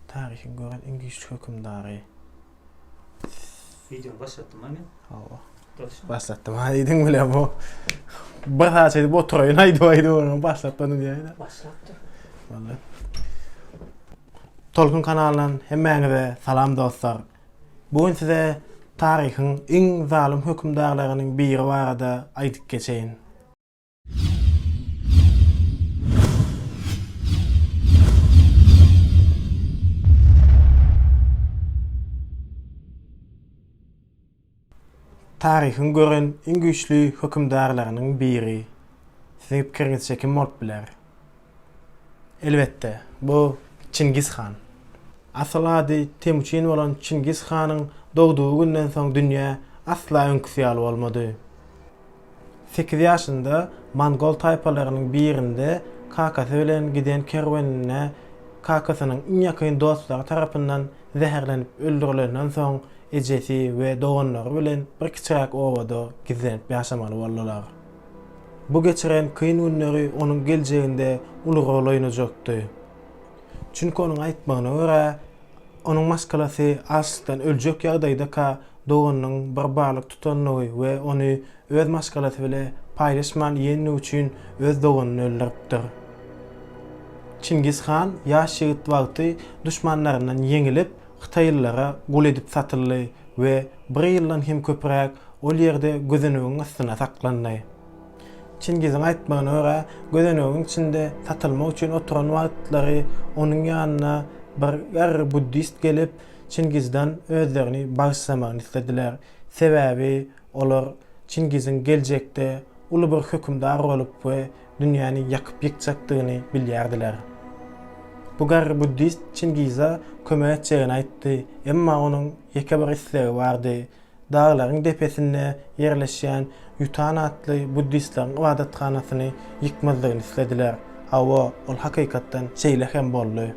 Taryhy gören iňlis hökümdary. Videony başlatdym ha men. Hawa. Başlatdym ha diýdiň bilen bu. Bir saat edip oturaýyn aýdyp aýdyp onu başlatdym diýýär. Başlatdy. Walla. Tolkun kanalyndan hemmäňize salam dostlar. Bu gün size taryhyň iň zalym hökümdarlarynyň biri barada aýdyp geçeýin. Taryhyň gören iň güýçli hökümdarlarynyň biri siziň pikiriňizçe kim bolup biler? Elbetde, bu Çingiz han. Asyl ady Temuçin bolan Çingiz hanyň dogdugy günden soň dünýä asla öňküsi ýaly bolmady. Sekiz ýaşynda mongol taýpalarynyň birinde kakasy bilen giden kerweninde kakasynyň iň ýakyn dostlary tarapyndan zäherlenip öldürilenden soň ejesi we doganlary bilen bir kiçiräk obada gizlenip ýaşamaly boldular. Bu geçiren kyn günleri onuň geljeginde uly rol oýnajakdy. Çünki onuň aýtmagyna görä, onuň maşgalasy açlykdan öljek ýagdaýdaka doganynyň bir balyk tutandygy we ony öz maşgalasy bile paýlaşman iýendigi üçin öz doganyny öldüripdir. Çingiz han ýaş ýigit wagty duşmanlaryndan ýeňilip, hytaýlylara gul edip satyldy we bir ýyldan hem köpräk ol ýerde gözenegiň ystyna saklandy. Çingiziň aýtmagyna görä, gözenegiň içinde satylmak üçin oturan wagtlary onuň ýanyna bir garry buddist gelip, Çingizden özlerini bagyşlamagyny islediler, sebäbi olar Çingiziň geljekde uly bir hökümdar bolup we dünýäni ýakyp-ýykjakdygyny bilýärdiler. Bu garry buddist Çingize kömek etjegini aýtdy, emma onuň ýeke bir islegi bardy, daglaryň depesinde ýerleşýän Ýutan atly buddistleriň ybadathanasyny ýykmazdygyny islediler. Hawa, ol hakykatdan şeýle hem boldy.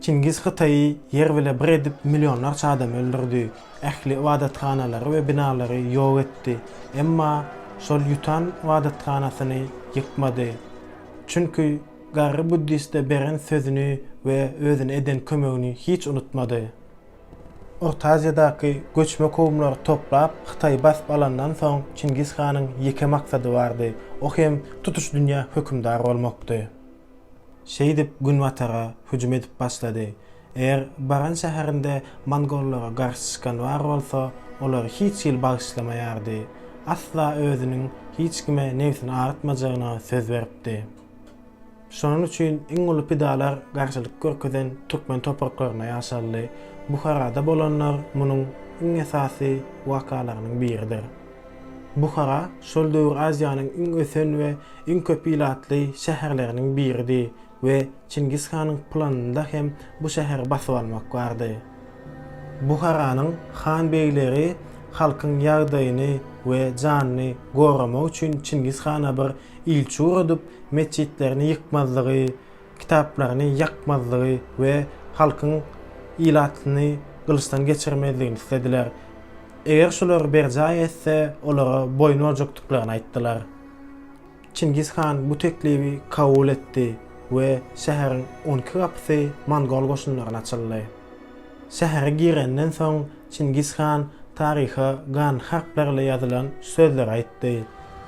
Çingiz Hytaýy ýer bile bir edip millionlarça adamy öldürdi. Ähli ybadathanalary we binalary ýok etdi, emma şol ýutan ybadathanasyny ýykmady. Çünki garry buddiste beren sözüni we özüne eden kömegini hiç unutmady. Orta Aziýadaky göçme kowumlary toplap, Hytaýy basyp alandan soň Çingiz hanyň ýeke maksady bardy, o hem tutuş dünýä hökümdar bolmakdy. Şeýdip günbatara hüjüm edip başlady. Eger baran şäherinde mongollara garşy çykan bar bolsa, olary hiç hili bagyşlamaýardy. Asla özüniň hiç kime nebsini agyrtmajagyna söz beripdi. Şonuň üçin iň uly pidalar garşylyk görkezen türkmen topraklarynda ýaşaldy. Buharada bolanlar munuň iň esasy wakalarynyň biridir. Buhara şol döwür Aziýanyň iň ösen we iň köp ilatly şäherleriniň biridi we Çingiz hanyň planynda hem bu şäheri basyp almak bardy. Buharanyň han-begleri halkyň ýagdaýyny we janyny goramak üçin Çingiz hana bir ilçi ugradyp, metjitlerini ýykmazlygy, kitaplaryny ýakmazlygy we halkyň ilatyny gylyçdan geçirmezligini islediler. Eger şular berjaý etse, olara boýun boljakdyklaryny aýtdylar. Çingiz han bu teklibi kabul etdi we şäheriň on iki gapysy mongol goşunlaryna açyldy. Şähere girenden soň Çingiz han taryha gan harplar ile ýazylan sözleri aýtdy,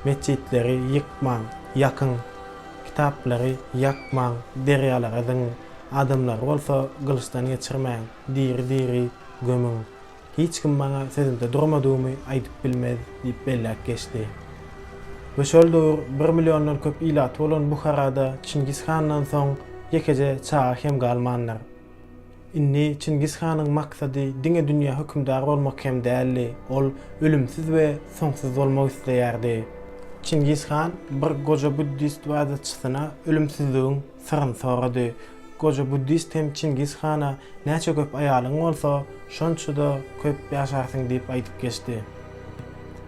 Metjitleri ýykmaň, ýakyň! Kitaplary ýakmaň, derýalara zyňyň! Adamlary bolsa gylyçdan geçirmäň, diri-diri gömüň! Hiç kim maňa sözümde durmadygymy aýdyp bilmez diýip belläp geçdi. We şol döwür bir milliondan köp ilaty bolan Buharada Çingiz handan soň ýekeje çaga hem galmandyr. Indi Çingiz hanyň maksady diňe dünýä hökümdar bolmak hem däldi, ol ölümsiz we soňsuz bolmak isleýärdi. Çingiz han bir goja buddist ybadatçysyna ölümsizligiň Syryn sorady. Goja buddist hem Çingiz hana Näçe köp aýalyň bolsa, şonça-da köp ýaşarsyň diýip aýdyp geçdi.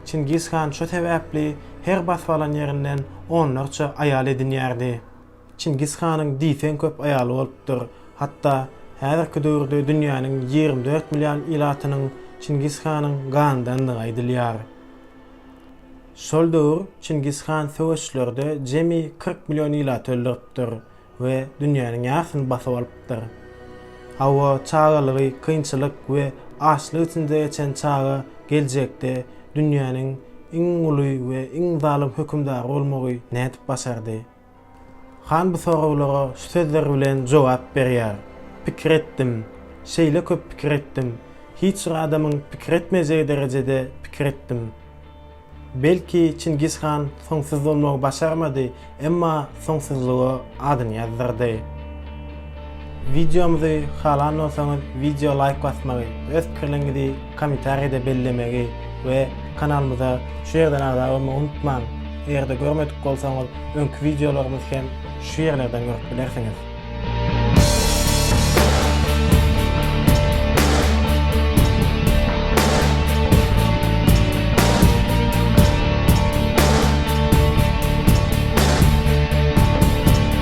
Çingiz han şo sebäpli her basyp alan ýerinden onlarça aýal edinýärdi. Çingiz hanyň diýseň köp aýaly bolupdyr. Hatda häzirki döwürde dünýäniň ýigrimi dört million ilatynyň Çingiz hanyň ganyndandygy aýdylýar. Şol döwür Çingiz han söweşlerde jemi kyrk million ilaty öldüripdir we dünýäniň ýarsyny basyp alypdyr. Hawa, çagalygy kynçylyk we açlyk içinde geçen çaga geljekde dünýäniň iň uly we iň zalym hökümdary bolmagy nädip başardy? Han bu soraglara şu sözler bilen jogap berýär, Pikir etdim, şeýle köp pikir etdim, hiç bir adamyň pikir etmejegi derejede pikir etdim. Belki, Çingiz han soňsuz bolmagy başarmady, emma soňsuzlyga adyny ýazdyrdy. Wideomyzy halan bolsaňyz wideo laýk basmagy, öz pikirleriňizi komentariýada bellemegi we kanalymyza şu ýerden agza bolmagy unutmaň. Eger-de görmedik bolsaňyz öňki wideolarymyzy hem şu ýerlerden görüp bilersiňiz.